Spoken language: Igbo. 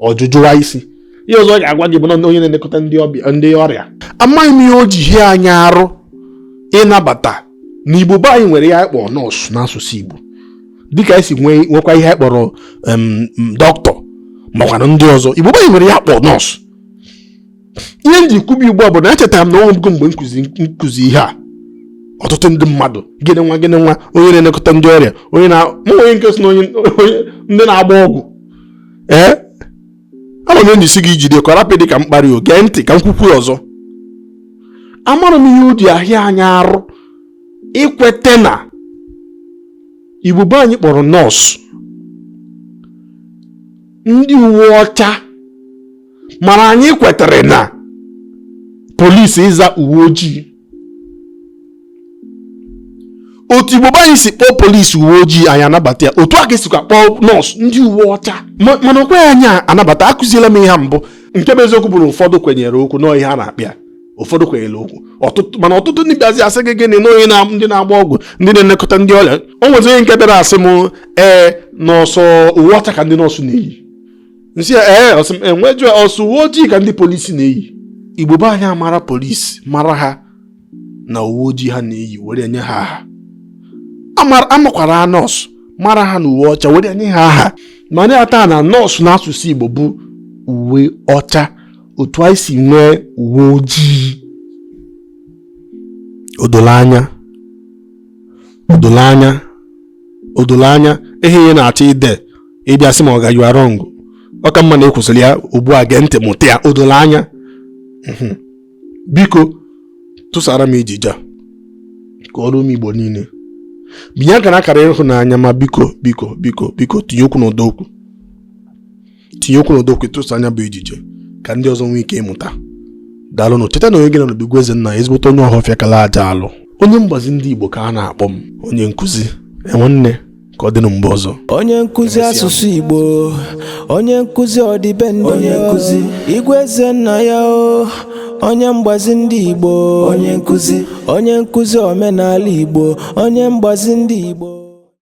ọ jụjụwa isi ihe ọzọ ọ ga-agwa gị bụ na onye na-elekọta ndị ọbịa ndị ọrịa amaghị m ihe o ji ahịa anyị arụ ịnabata na igbo be anyị nwere ihe anyị kpọrọ nọọsụ n'asụsụ igbo dịka anyị si nwekwa ihe anyị kpọrọ dọkịta makwana ndị ọzọ igbo be anyị nwere ihe a kpọrọ nọọsụ ihe m ji kwube ugbu a bụ na echetara m na o nwego mgbe m kụzi ihe a ọtụtụ ndị mmadụ gịnị nwa gịnị nwa onye na-elekọta ndị ọrịa nwee onye nke sị na ndị na-agba ọgwụ ee ana m ejisi ike ijide ka ọ rapụ ịdị ka mkparị o gee ntị ka m kwukwuo ọzọ amarọ m ihe o ji ahịa anyị arụ ikwete na igbo be anyị kpọrọ nọọsụ ndị uwe ọcha mana anyị kwetara na polisi ịza uwe ojii otu igbo be anyị si kpọọ polisi uwe ojii anyị anabata ya otu a ka e sikwa kpọọ nọọsụ ndị uwe ọcha mana o kweghị anyị anabata akụziela m ihe a mbụ nke bụ eziokwu bụ na ụfọdụ kwenyere okwu nọọ ihe a na-akpịa ụfọdụ kwenyere okwu ọtụtụ mana ọtụtụ ndị bịazi asị gị gịnị n'onye na ndị na-agba ọgwụ ndị na-elekọta ndị ọrịa o nwezi onye nke bịara asị m ee na ọ sọ uwe ọcha ka ndị nọọsụ na-eyi m sị ya ee uwe ojii ọ sọ uwe ojii ka ndị polisi na-eyi igbo be anyị amara polisi mara ha na uwe ojii ha na-eyi were nye ha aha Amara- amakwara nọọsụ mara ha na uwe ọcha were nye ha aha mara ya taa na nọọsụ n'asụsụ igbo bụ uwe ọcha otu anyị si nwee uwe ojii o dolo anya o dolo anya o dolo anya ihe ị na-achọ ide ịbịa sị m oga you are wrong ọ ka mma na ị kwụsịrị ya ugbu a gee ntị mụta ya o dolo anya mhm. biko tụsara m ejije a ka o ruo ụmụ igbo niile binye aka na akara ịhụnanya ma biko biko biko biko tinye okwu n'ụdọ okwu tinye okwu n'ụdọ okwu tụsaa nya bụ ejije ka ndị ọzọ nwee ike ịmụta daalụnụ cheta na onye gị na ya nọ bụ Igwe Ezenna ya ezigbote onye ọhọfịa kala aja alụ onye mgbazi ndị Igbo ka a na-akpọ m onye nkụzi enwanne ka ọ dịnụ mgbe ọzọ onye nkụzi asụsụ Igbo onye nkụzi ọdịbendị onye nkụzi Igwe Ezenna ya o onye mgbazi ndị Igbo onye nkụzi omenala Igbo onye mgbazi ndị Igbo